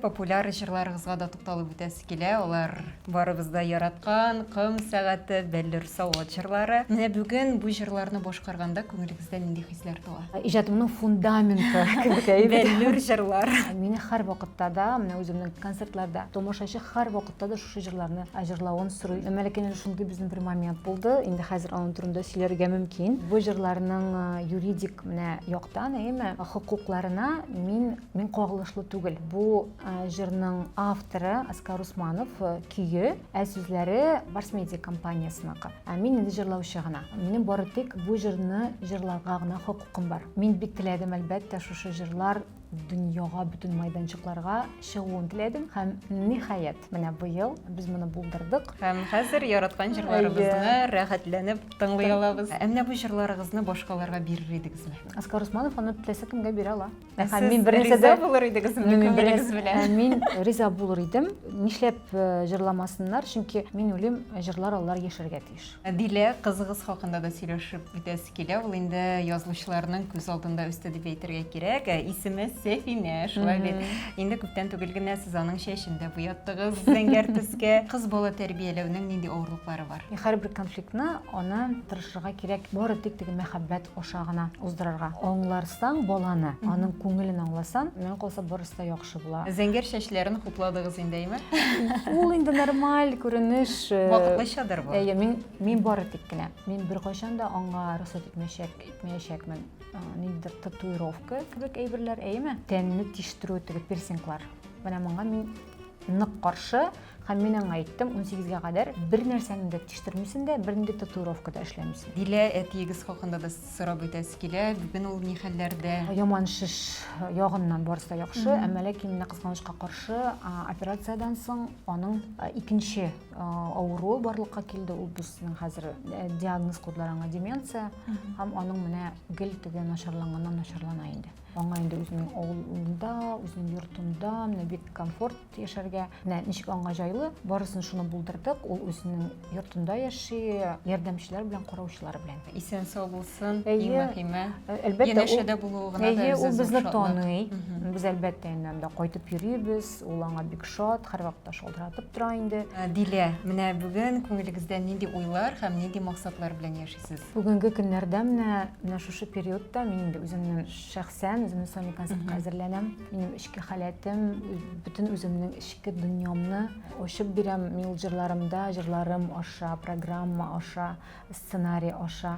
Популяр җырларыгызга да тукталып үтәсе килә, алар барыбыз да яраткан, Ком сәгате, Бәллүр савыт җырлары. Менә бүген бу җырларны башкарганда күңелегездә нинди хисләр туа? Иҗатымның фундаменты кебек әйбер. Бәллүр җырлар. Мине һәрвакытта да, менә үземнең концертларда тамашачы һәрвакытта да шушы җырларны җырлавын сорый. Мәликәнең шундый безнең бер момент булды, инде хәзер аның турында сөйләргә мөмкин. Бу җырларның юридик менә яктан, әйеме, хокукларына мин, Мин кагылышлы түгел. Бу җырның авторы Аскар Усманов, көе, ә сүзләре Барс Медиа компаниясенеке. Ә мин инде җырлаучы гына. Минем бары тик бу җырны җырларга гына хокукым бар. Мин бик теләдем, әлбәттә, шушы җырлар дөньяга, бөтен майданчыкларга чыгуын теләдем һәм ниһаять, менә быел без моны булдырдык. Һәм хәзер яраткан җырларыбызны рәхәтләнеп тыңлый алабыз. Ә менә бу җырларыгызны башкаларга бирер идегезме? Аскар Усманов аны теләсә кемгә бирә ала. Мин риза булыр идегез белән. Мин риза булыр идем. Нишләп э, җырламасыннар? Чөнки мин үлем җырлар алар яшәргә тиеш. Дилә кызыгыз хакында да сөйләшеп бетәсе килә. Ул инде язылучыларның күз алдында үсте дип әйтергә кирәк. Э, исеме Сәфинә, шулай бит. Инде күптән түгел генә сез аның чәчен дә буяттыгыз зәңгәр төскә. Кыз бала тәрбияләүнең нинди авырлыклары бар? Һәрбер конфликтны аны тырышырга кирәк. Бары тик теге мәхәббәт аша гына уздырырга. Аңларсаң баланы, аның күңелен аңласаң, миңа калса барысы да яхшы була. Зәңгәр чәчләрен хупладыгыз инде, әйме? Ул инде нормаль күренеш. Э, Вакытлычадыр бу. Әйе, мин мин бары тик кенә. Мин беркайчан да аңа рөхсәт итмәячәк, итмәячәкмен. Э, ниндидер татуировка кебек әйберләр, әйеме? Тәнне тиштерү теге пирсинглар. Менә моңа мин нык каршы һәм мин аңа әйттем 18-гә кадәр бер нәрсәне дә тиштертмисең дә бер нинди татуировка да эшләмисең дилә әтиегез хакында да сорап үтәсе килә бүген ул ни хәлләрдә яман шеш ягыннан барысы да яхшы әмма ләкин менә кызганычка каршы операциядән соң аның икенче авыруы барлыкка килде ул безнең хәзер э, диагноз куйдылар аңа деменция һәм аның менә гел теге начарланганнан начарлана инде Аңа инде үзенең авылында, үзенең йортында менә бик комфорт яшәргә. Менә ничек аңа җайлы, барысын шуны булдырдык. Ул үзенең йортында яши, ярдәмчеләр белән, караучылар белән. Исән сау булсын, иң мөһиме. Әлбәттә, янәшәдә булуы гына да безне Ул безне таный. Без әлбәттә инде анда кайтып йөрибез. Ул аңа бик шат, һәрвакытта шалтыратып тора инде. Дилә, менә бүген күңелегездә нинди уйлар һәм нинди максатлар белән яшисез? Бүгенге көннәрдә менә менә шушы периодта мин инде үземнең шәхсән үземнең сольный концертка әзерләнәм. Минем эчке халәтем, бөтен үземнең эчке дөньямны ачып бирәм. Мин ул җырларымда, җырларым аша, программа аша, сценарий аша.